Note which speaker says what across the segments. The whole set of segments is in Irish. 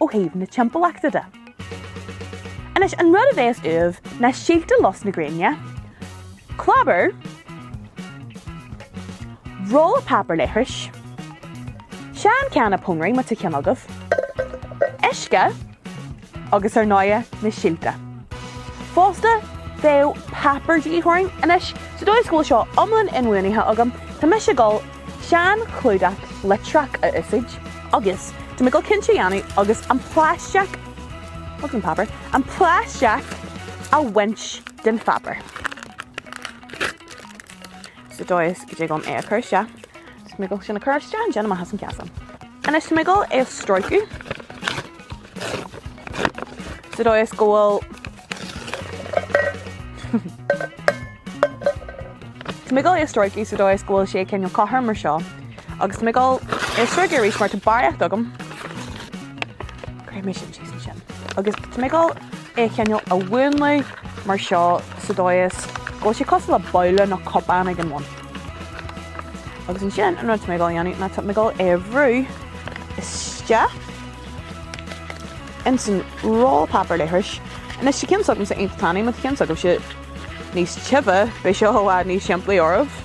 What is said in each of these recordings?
Speaker 1: ó thaobh na timpeallachta de. Anois, an rud a bhéas uaibh ná síolta lus na gréine, clábar, rolla páipéar leithris, seanchanna pónairí má tá ceann agaibh, uisce agus ar ndóighe, na síolta. Fosta, bheadh páipéar de dhíth orainn. Anois, sa dóigh is go bhfuil seo iomlán inbhuanaithe agam, tá mise ag dul, seanchlúdach litreach a úsáid. agus tá mé ag dul cinnte a dhéanamh agus an plaisteach agus an páipéar, an plaisteach a bhaint den pháipéar. Sa dóigh go dtig liom é a chur isteach. Tá mé ag dul sin a chur isteach an déanam as an ceasan. Anois tá mé ag dul é a stróiceadh. Sa dóigh is go bhfuil Tá mé ag dul é a stróiceadh sa dóigh is go bhfuil sé cineál cothrom mar seo agus tá mé ag dul é a stróiceadh arís mar tá barraíocht agam. Cuirfidh mé sin síos ansin. Agus tá mé ag dul é a chineál a mhúnlú mar seo sa dóigh is go bhfuil sé cosúil le babhla nó cupán ag an bhun. Agus ansin an rud atá mé ag dul a dhéanamh ná tá mé ag dul é a bhrú isteach. ins an rolla páipéar leithris. Anois, tá ceann s'agamsa iontach tanaí, má tá ceann s'agaibhse níos tiubhe, beidh seo i bhfad níos simplí oraibh.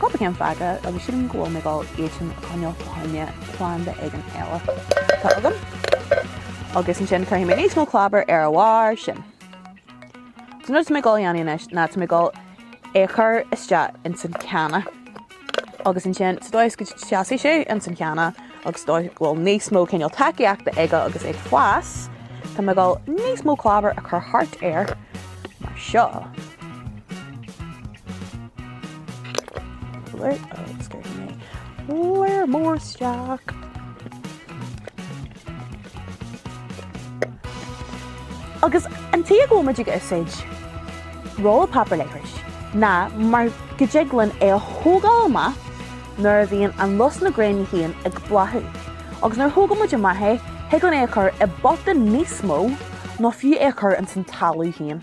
Speaker 1: Cúpla ceann fágtha agus sílim go bhfuil mé ag dul iad sin a choinneáil fá choinne planda éigin eile atá agam agus ansin cuirfidh mé níos mó clábair ar a bharr sin. So an rud atá mé ag dul a dhéanamh anois ná tá mé ag dul é a chur isteach ins an channa agus ansin sa dóigh is go seasfaidh sé ins an channa, agus dóigh go bhfuil níos mó cineál tacaíochta aige agus é ag fás, tá mé ag dul níos mó clábar a chur thart air mar seo. Agus cuirfidh mé mór mór isteach. Agus an tuige a bhfuil muid ag úsáid rolla páipéar leithris ná mar go dtig linn é a thógáil amach nuair a bhíonn an lus na gréine féin ag bláthú. Agus nuair a thógann muid amach é, thig linn é a chur i bpota níos mó nó fiú é a chur ins an talamh féin.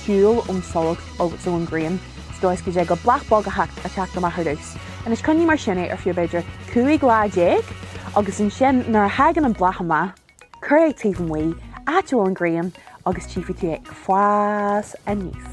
Speaker 1: shiúl ón tsolas agus ón ghrian sa dóigh is go dtig le bláth beag a theacht a theacht amach ar dtús. Anois coinnigh mar sin é ar feadh b'fhéidir cúig lá déag agus ansin nuair a thagann an bláth amach cuir é taobh amuigh áit a bhfuil an ghrian agus tchífidh tú é ag fás aníos.